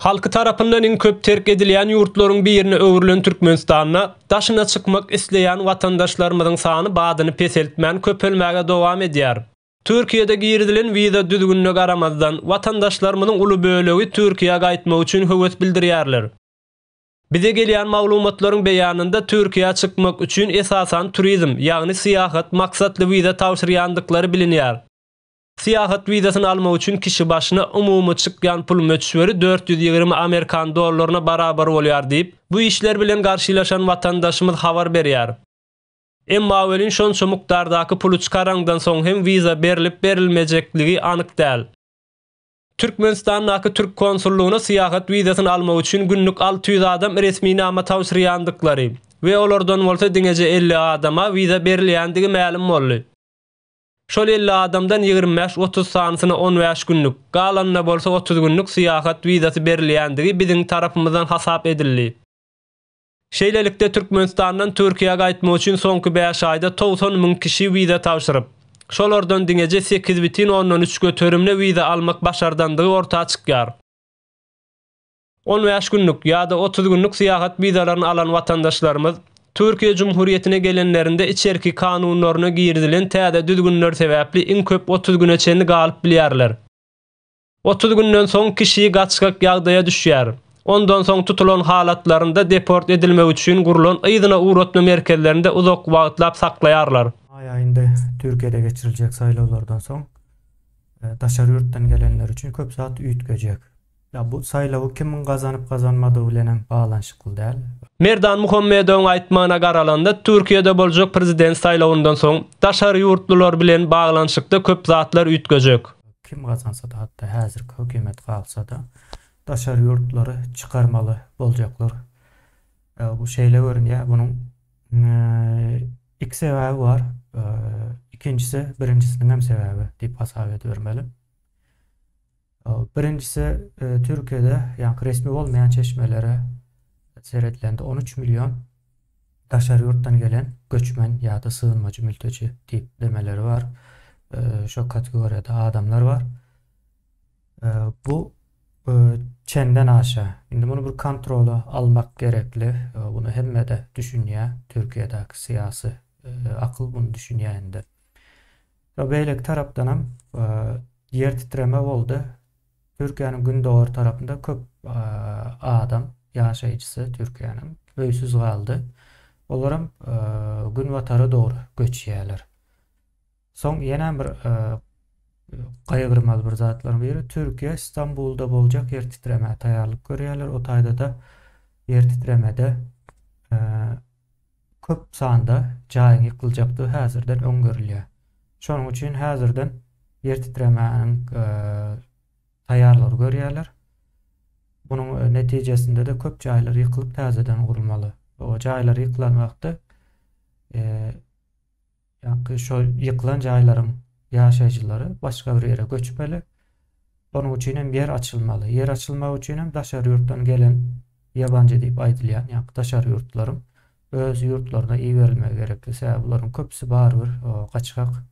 Halky tarapyndan iň köp terk edilýän ýurtlaryň birine öwrülen Türkmenistanda daşyna çykmak isleýän watandaşlarymyzyň sany badyny peseltmän köpelmäge dowam edýär. Türkiýede girizilen wiza düzgünine garamazdan, watandaşlarymyzyň uly bölegi Türkiýä gaýtmak üçin höwes bildirýärler. Bize gelýän maglumatlaryň beýanynda Türkiýä çykmak üçin esasan turizm, ýagny syýahat maksatly wiza tabşyrýandyklary bilinýär. Syýahat wizasyny almak üçin kişi başyna umumy çykýan pul möçberi dört ýüz ýigrimi amerikan dollaryna barabar bolýar diýip, bu işler bilen garşylaşan watandaşymyz habar berýär. Emma welin şonça mukdardaky puly çykaraňdan soň hem wiza berlip-berilmejekligi anyk däl. Türkmenistandaky türk konsullygyna syýahat wizasyny almak üçin günlük alty ýüz adam resminama tabşyrýandyklary we olardan bolsa diňeje elli adama wiza berilýändigi mälim boldy. Şol elli adamdan ýigrimi bäş, otuz sanysyna on bäş günlük, galanyna bolsa otuz günlük syýahat wizasy berilýändigi biziň tarapymyzdan hasap edildi. Şeýlelikde, Türkmenistandan Türkiýä gaýtmak üçin soňky bäş aýda togsan müň kişi wiza tabşyryp, şolardan diňeje sekiz bütin ondan üç göterimine wiza almak başardandygy orta çykýar. On bäş günlük ýa-da otuz günlük syýahat wizalaryny alan watandaşlarymyz Türkiýe Cumhuriyetine gelenlerinde içerki kanunlaryna girizilen täze düzgünler sebäpli iň köp otuz güne çenli galyp bilýärler. Otuz günden soň kişi gaçgak ýagdaýa düşýär. Ondan soň tutulan halatlarynda deport edilmegi üçin gurlan yzyna ugratma merkezlerinde uzak wagtlap saklaýarlar. Maý aýynda Türkiýede geçiriljek saýlawlardan soň daşary ýurtdan gelenler üçin köp zat üýtgejek. Ýa bu saýlawy kimiň gazanyp gazanmadygy bilenem baglanyşykly däl. Merdan Muhammedowyň aýtmagyna garalanda Türkiýede boljak prezident saýlawyndan soň daşary ýurtlular bilen baglanyşykda köp zatlar üýtgejek. Kim gazansada hatda häzirki hökümet galsada daşary ýurtlary çykarmaly boljaklar. Bu şeýle görünýär bunuň iki sebäbi bar. Ikinjisi birinjisiniňem sebäbi diýip hasap edibermeli. Birinjisi Türkiýede, ýaňky resmi bolmaýan çeşmelere seredilende on üç million daşary ýurtdan gelen göçmen ýa-da sygynmajy mülteji diýip demeleri bar. Şo kategoriýada adamlar bar. Bu çenden aşa. Indi muny bir kontrola almak gerekli. Bunu hemme-de düşünýär. Türkiýedäki syýasy akyl bunu düşünýär indi. Ýa beýleki tarapdanam ýer titreme boldy. Türkiýäniň gündogar tarapynda köp adam ýaşaýjysy Türkiýäniň öýsüz galdy. Olaram günbatara dogry göçýärler. Soň ýene bir gaýgyrmaly bir zatlaryň biri Türkiýe Stambulda boljak ýer titremä taýýarlyk görýärler. O taýda-da ýer titremede köp sanda jaýyň ýykyljakdygy häzirden öň görülýär. Şonuň üçin häzirden ýer titremäniň taýýarlygyny görýärler. Munuň netijesinde-de köp jaýlar ýykylyp täzeden gurulmaly. O jaýlar ýykylan wagtda Ýaňky şol ýykylan jaýlaryň ýaşaýjylary başga bir ýere göçmeli. Onuň üçin hem ýer açylmaly. Ýer açylmagy üçin hem daşary ýurtdan gelen ýabanjy diýip aýdylýan ýaňky daşary ýurtlaryň öz ýurtlaryna iberilmegi gerekli. Sebäbi bularyň köpüsi barybir gaçgak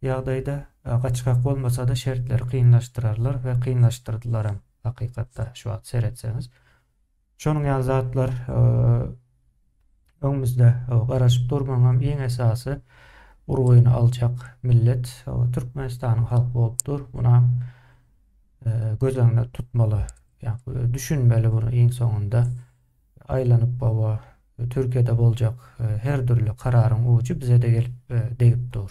ýagdaýda. Gaçgak bolmasa-da şertleri kynlaşdyrarlar we kynlaşdyrdylaram hakykatda şu wagt seretseňiz. Şonuň ýaly zatlar öňümizde garaşyp dur. Munuň hem iň esasy urgyny aljak millet Türkmenistanyň halky bolup dur. Muna göz öňünde tutmaly. Ýagny düşünmeli bunu iň soňunda. Aýlanyp gowa Türkiýede boljak her dürli kararyň ujy bize-de gelip degip dur.